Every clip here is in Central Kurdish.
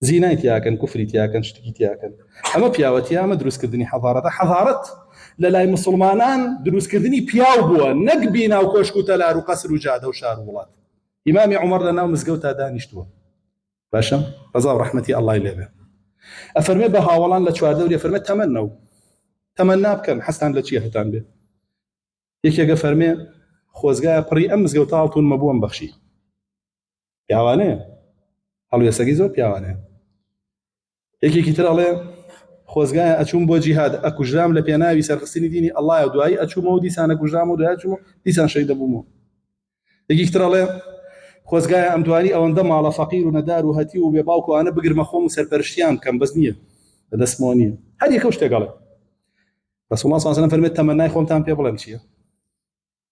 زینای تیاکەن کوفری تیاکەن شتکی تیاکەن ئەمە پیاوەتی ئەمە دروستکردنی حەضارەتە حەضارەت لە لای مسلمانان دروستکردنی پیاو بووە نەک بینا و کۆشک و تەلار و قەسر و جادە و شار و وڵات ئیمامی عمر لە ناو مزگەوتا دانیشتووە باشە ڕزا و ڕەحمەتی ئەڵای لێبێ ئەفەرمێ بە هاوڵان لە چواردەوری فەرمە تەمەنە و تەمەنا بکەن حەستان لە چیە هەتان بێ یەکێگە فەرمێ خۆزگایە پڕی ئەم مزگەوتاڵتون مەبووم بەخشی پیاوانەیە هەڵوێستەکەی زۆر پیاوانەیە یەکێکی تر ئەڵێ خۆزگایە ئەچووم بۆ جیهاد ئەکوژرام لە پێناوی سەرخستنی دینی ئەڵای و دوایی ئەچوومە و دیسانە کوژرام و دوای چوو دیسان شەی دەبوومەوە یەکێک ترەڵێ خۆزگایە ئەم دوانی ئەوەندە ماڵە فەقیر و نەدار و هەتی و بێ باوکوانە بگرمە خۆم و سەرپەرشتیان بکەم بەس نییە لە دەستمەوە نییە هەر یەکە شتێکەڵێ بەسڵ سازنە فەرمێت تەمەنای خۆمتان پێ بڵێم چییە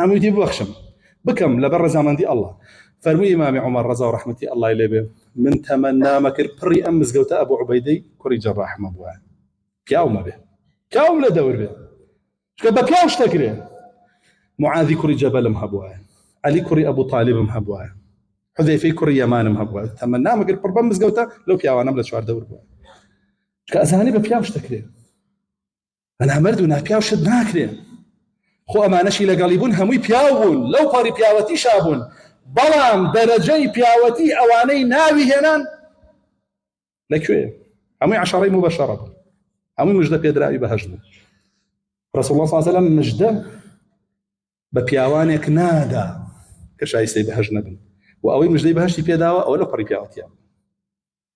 هەمووی دی ببەخشم بکەم لەبەر ڕزامەندی ئەلله فەرمووی ئیمامی عمر ڕزا و ڕحمەتی ئەلله لێ بێ من تەمە نامە کرد پڕی ئەم مزگەوتە ئەبو عوبەیدەی کوڕی جەڕاحمە بووە پیاومە بێ پیاوم لە دەور بێ چکە بە پیاو شتەکرێ معاذی کوڕی جەبەلم هەبووە علی کوڕی ئەبو طالبم هەبووە حذەیفەی کوڕی یەمانم هەبووە تەمە نامە کرد پڕ بەم مزگەوتە لەو پیاوانم لە چوار دەور بووە کە ئەزانی بە پیاو شتەکرێ بەنامەرد و ناپیاو شت ناکرێن خۆ ئەمانەشی لەگەڵی بوون هەمووی پیاو بوون لەو پەڕی پیاوەتی شابوون بەڵام دەرەجەی پیاوەتی ئەوانەی ناوی هێنان لەکوێ هەمووی عشاڕی مو بەشەڕە بوو هەمووی مژدە پێدراوی بەهش بوو رسول الله صلی الله مژدە بە پیاوانێک نادا کە شایستەی بەهش نەبن و ئەوەی مژدەی بەهشتی پێداوە ئەوە لە پەڕی پیاوەتیان